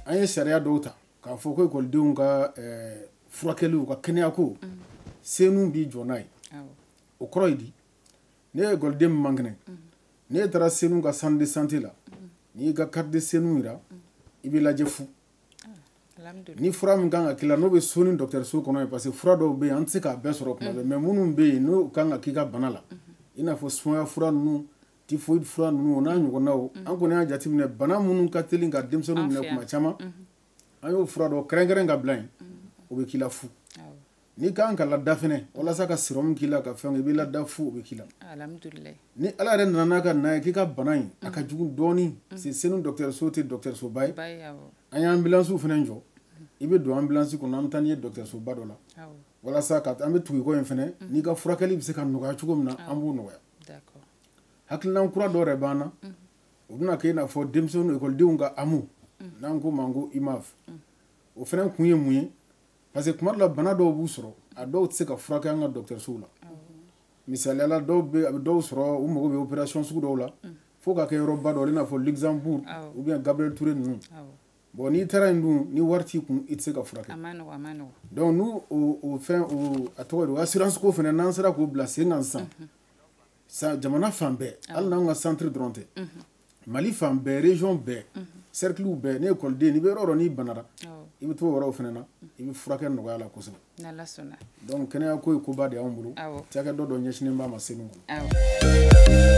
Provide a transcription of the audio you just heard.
an ye sariya dɔw ta k'a fɔ ko ekɔlidenw ka furakɛliw ka kɛnɛyako senu b'i jɔ n'a ye o kɔrɔ ye di n'e ekɔliden min man kɛnɛ n'e taara senu ka centre de santé la n'i y'i ka carte de senu jira i bɛ lajɛ fu ni fura min kan ka k'i la n'o bɛ senu dɔgɔtɔrɔso kɔnɔ yen parce que fura dɔw bɛ yen an tɛ se k'a bɛɛ sɔrɔ kuma bɛɛ mais minnu bɛ yen n'o kan ka k'i ka bana la i n'a fɔ sumaya fura ninnu typhoïde fura ninnu o n'a ɲɔgɔnnaw an kɔni y'a jateminɛ bana minnu ka teli ka denmisɛnninw minɛ kuma caman an y'o fura dɔ kɛrɛnkɛrɛn ka bila yen o bɛ k'i la fu n'i kan ka lada fɛnɛ walasa ka sirɔmu k'i la ka fɛn i bɛ lada fu o bɛ k'i la ni ala yɛrɛ nana n'a ka na ye k'i ka bana in a ka jugu dɔɔnin mm. c'est senu dɔgɔtɔrɔso tɛ dɔgɔtɔrɔsoba ye an ye ambulancew fɛnɛ jɔ i bɛ don ambulance kɔnɔ an bɛ taa n'i ye dɔgɔtɔrɔsoba dɔ la walasa ka an bɛ tugu i kɔ yen fɛnɛ mm. n'i ka furakɛli bɛ se ka nɔgɔya cogo min na an b'o nɔgɔya hakilinan kura dɔ yɛrɛ b'an na mm. o bɛna kɛ i n'a fɔ denmisɛnninw ekɔlidenw ka AMO n'an k'o ma ko imaf o fɛnɛ kun ye mun ye parce que tuma dɔ la bana dɔw b'u sɔrɔ a dɔw tɛ se ka furakɛ an ka dɔgɔtɔrɔsow la misaliya la dɔw bɛ a bɛ dɔw sɔrɔ u mago bɛ opération sugu dɔw la fo k'a kɛ yɔrɔba dɔ i n'a fɔ Luxembourg ou bien Gabriel Touré ninnu bon n'i taara yen dun ni wari t'i kun i tɛ se ka furakɛ donc n'u o fɛn o a tɔgɔ ye di o assurance ko fɛnɛ n'an sera k'o bila sen kan sisan. jamana fan bɛɛ hali n'an ka centre dɔrɔn tɛ mali fan bɛɛ région bɛɛ cerclew bɛɛ ni ekɔliden n'i bɛ yɔrɔ dɔ n'i banara i bɛ t'o yɔrɔw fɛnɛ na i bɛ furakɛ nɔgɔya la kosɛbɛ donc kɛnɛya ko ye koba de y'anw bolo cakɛda dɔ ɲɛsinnen b'a ma senu kɔnɔ